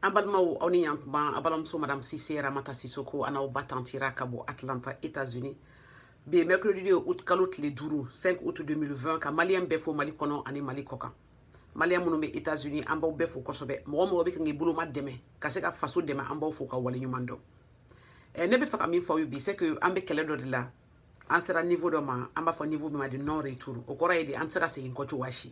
an balimaw aw ni yan kuma aw balimamuso madame sise ramata sisoko an n'aw ba tantira ka bɔ atlanta états-unis bi ye mercredi ye août kalo tile duuru 5 août 2020 ka maliyɛn bɛɛ fo mali kɔnɔ ani mali kɔkan maliyɛn minnu bɛ états-unis an b'aw bɛɛ fo kosɛbɛ mɔgɔ mɔgɔ bɛ kan k'i boloma dɛmɛ ka se ka faso dɛmɛ an b'aw fo ka wale ɲuman dɔn eh, ne bɛ fɛ ka min fɔ aw ye bi c'est que an bɛ kɛlɛ dɔ de la an sera niveau dɔ ma an b'a fɔ niveau min ma de non retour o kɔrɔ ye di an tɛ se ka segin kɔ cogoya si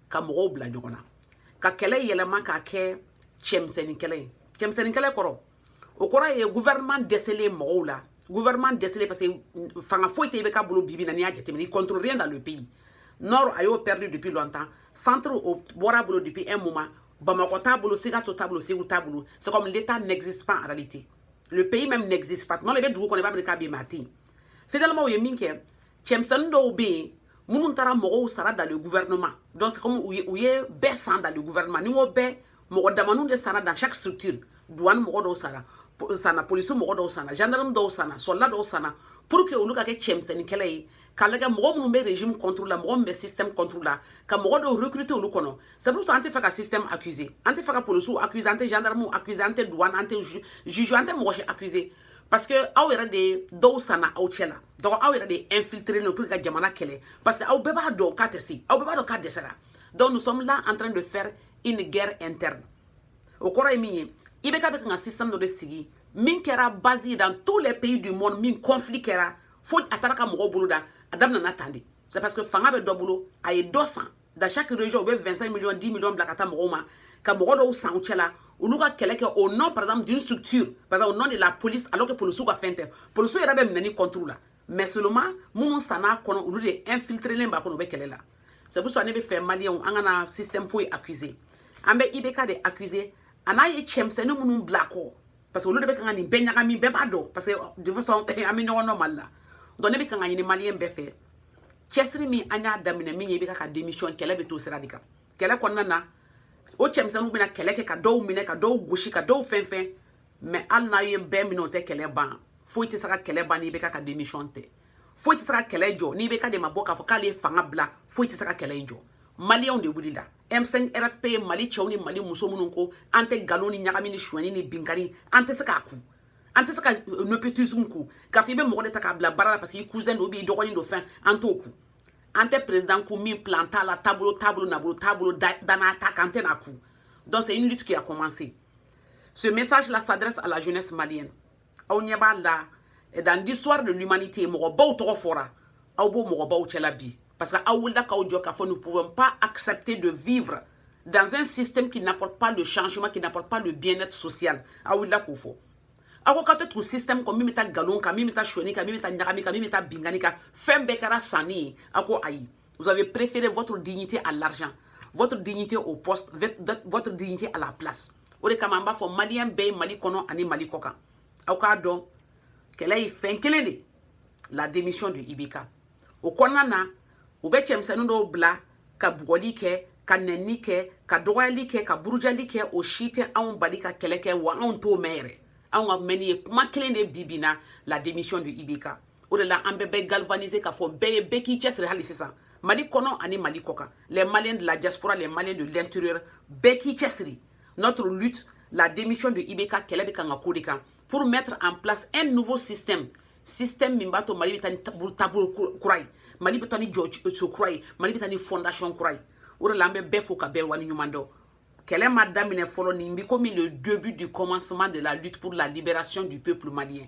ka mɔgɔw bila ɲɔgɔn na ka kɛlɛ yɛlɛma k'a kɛ cɛmisɛnnin kɛlɛ ye cɛmisɛnnin kɛlɛ kɔrɔ o kɔrɔ ye gouvernement dɛsɛlen mɔgɔw la gouvernement dɛsɛlen parce que fanga foyi tɛ ibk bolo bi bi in na n'i y'a jateminɛ il contrôle rien dans le pays nord a y'o perdu depuis longtemps centre o bɔra bolo depuis un moment bamakɔ t'a bolo sikaso t'a bolo segu t'a bolo c'est comme l'état n'existe pas en réalité le pays même n'existe pas tuma dɔ la i bɛ dugu kɔnɔ i b'a miiri k'a bɛ yen mais a tɛ yen finalement u ye min kɛ cɛmisɛnnin dɔw bɛ yen minnu taara mɔgɔw sara dans le gouvernement donc c'est comme u ye u ye bɛɛ san dans le gouvernement ni n ko bɛɛ mɔgɔ damaniw de sara dans chaque structure douane mɔgɔ dɔw sara sanna polisi mɔgɔ dɔw sanna gendarme dɔw sanna soldat dɔw sanna pour que olu ka kɛ cɛmisɛnnin kɛlɛ ye k'a lajɛ mɔgɔ minnu bɛ régime contre la mɔgɔ min bɛ système contre la ka mɔgɔ dɔw recruter olu kɔnɔ c'est pour ça an tɛ fɛ ka système accuser an tɛ fɛ ka polisiw accuser an tɛ gendarmew accuser an tɛ douane an tɛ juge an tɛ mɔgɔ si accuser parce que aw yɛrɛ de ye dɔw sanna aw cɛ la donc aw yɛrɛ de infiltrelen don pour que ka jamana kɛlɛ parce que aw bɛɛ b'a dɔn k'a tɛ se aw bɛɛ b'a dɔn k'a dɛsɛra donc nous sommes là en train de faire une guerre interne o kɔrɔ ye min ye ibk bɛ kan ka système dɔ de sigi min kɛra base ye dans tous les pays du monde min conflit kɛra fo a taara ka mɔgɔw bolo dan a daminɛna tan de c'est parce que fanga bɛ dɔ bolo a ye dɔ san dans chaque région u bɛ 25 millions 10 millions bila ka taa mɔgɔw ma ka mɔgɔ dɔw san u cɛla olu ka kɛlɛ kɛ au nom par exemple d'une structure par exemple au nom de la police alors que polisiw ka fɛn tɛ polisiw yɛrɛ bɛ minɛni contre la mais seulement minnu sann'a kɔnɔ olu de infiltrelen b'a kɔnɔ u bɛ kɛlɛ la c'est pour ça ne bɛ fɛ maliyɛnw an kana système foyi accuser an bɛ ibk de accuser an'a ye cɛmisɛnnin minnu bila kɔ parce que olu de bɛ kan ka nin bɛɛ ɲagami bɛɛ b'a dɔn parce que de toute façon an bɛ ɲɔgɔn dɔn mali la donc ne bɛ kan k'a ɲini maliyɛn bɛɛ fɛ cɛsiri min an y'a daminɛ min ye ibk ka démission kɛlɛ bɛ to sira de kan kɛlɛ kɔnɔna na o cɛmisɛnninw bɛna kɛlɛ kɛ ka dɔw minɛ ka dɔw gosi ka dɔw fɛn fɛn mais hali n'a ye bɛɛ minɛ o tɛ kɛlɛ ban foyi tɛ se ka kɛlɛ ban ni ibk ka démission tɛ foyi tɛ se ka kɛlɛ jɔ ni ibk de ma bɔ k'a fɔ k'ale ye fanga bila foyi tɛ se ka kɛlɛ in jɔ maliyɛnw de wulila M5 RFP ye Mali cɛw ni Mali muso minnu ko an tɛ nkalon ni ɲagami ni sonyani ni binkanni an tɛ se k'a ku an tɛ se ka euh, nepotisme ku k'a fɔ i bɛ mɔgɔ de ta k'a bila baara la parce que i cousin don b'i dɔgɔnin don fɛn an t'o ku an tɛ président ku min plan t'a la taabolo t'a bolo nabolo t'a bolo danaya t'a kan an tɛn'a ku donc c'est une lutte qui a commencé ce message là s'adresse à la jeunesse malienne aw ɲɛ b'a la eh, dans l'histoire de l'humanité mɔgɔbaw tɔgɔ fɔra aw b'o mɔgɔbaw cɛla bi parce que aw wulila k'aw jɔ k'a fɔ nous pouvons pas accepter de vivre dans un système qui n'apporte pas le changement qui n'apporte pas le bien-être social aw wulila k'o fɔ aw ko k'aw tɛ tugu système kɔ min bɛ taa nkalon kan min bɛ taa sonyani kan min bɛ taa ɲagami kan min bɛ taa binkanni kan fɛn bɛɛ kɛra sanni ye aw ko ayi Vous avez préféré votre dignité à l'argent, votre dignité au poste, votre dignité à la place. O de kama an b'a fɔ maliyɛn bɛɛ ye mali kɔnɔ ani mali kɔkan aw k'a dɔn kɛlɛ ye fɛn kelen de la démission de ibk o kɔnɔna na u bɛ cɛmisɛnnin dɔw bila ka bugɔli kɛ ka nɛnni kɛ ka dɔgɔyali kɛ ka burujali kɛ o si tɛ anw bali ka kɛlɛ kɛ wa anw t'o mɛn yɛrɛ anw ka mɛnni ye kuma kelen de bi bi na la démission de ibk o de la an bɛ bɛɛ galvaniser k'a fɔ bɛɛ ye bɛɛ k'i cɛsiri hali sisan mali kɔnɔ ani mali kɔkan les maliens de la diaspora les maliens de l'intérieur bɛɛ k'i cɛsiri notre lutte la démission de ibk kɛlɛ bɛ kan ka k'o de kan pour mettre en place un nouveau système système min b'a to mali bɛ taa ni taabolo kura ye mali bɛ taa ni jɔsen kura ye mali bɛ taa ni fondation kura ye o de la an bɛ bɛɛ fo ka bɛɛ wali ɲuman dɔn kɛlɛ ma daminɛ fɔlɔ nin bi komi le début du commencement de la lutte pour la libération du peuple malien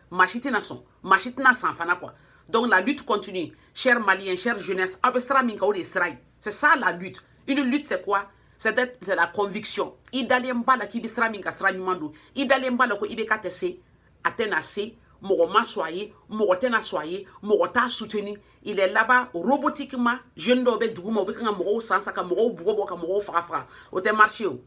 maa si tɛna sɔn maa si tɛna san fana quoi donc la lutte continue chers maliens chère jeunesse aw bɛ sira min kan o de ye sira ye c'est ça la lutte une lutte c'est quoi c'est de la conviction i dalen b'a la k'i bɛ sira min kan sira ɲuman don i dalen b'a la ko ibk tɛ se a tɛna se mɔgɔ ma sɔn a ye mɔgɔ tɛna sɔn a ye mɔgɔ t'a soutenu il est là-bas robotiquement jeune dɔw bɛ duguma u bɛ kan ka mɔgɔw san san ka mɔgɔw bugɔ bugɔ ka mɔgɔw faga faga o tɛ marché o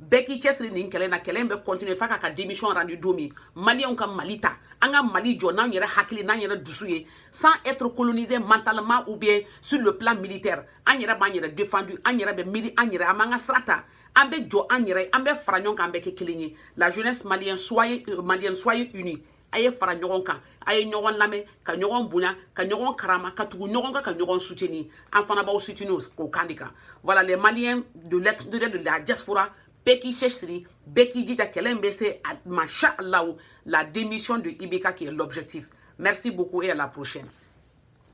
bɛɛ k'i cɛsiri nin kɛlɛ na kɛlɛ bɛ continuer f'a k'a ka démission rendu don min maliyɛnw ka mali ta an ka mali jɔ n'an yɛrɛ hakili n'an yɛrɛ dusu ye sans être colonisé mentalement ou bien sur le plan militaire an yɛrɛ b'an yɛrɛ défendu an yɛrɛ bɛ miiri an yɛrɛ an b'an ka sira ta an bɛ jɔ an yɛrɛ an bɛ fara ɲɔgɔn kan an bɛ kɛ kelen ye la jeunesse malienne soyez unis a ye fara ɲɔgɔn kan a ye ɲɔgɔn lamɛn ka ɲɔgɔn bonya ka ɲɔgɔn karama ka tugu ɲɔgɔn kan ka ɲɔgɔn soutenir an fana b'aw soutenir o kan de kan voilà les maliens de la diaspora bɛɛ k'i cɛsiri bɛɛ k'i jija kɛlɛ in bɛ se a ma sha allahu la démission de ibk qui est l'objectif merci beaucoup et à la prochaine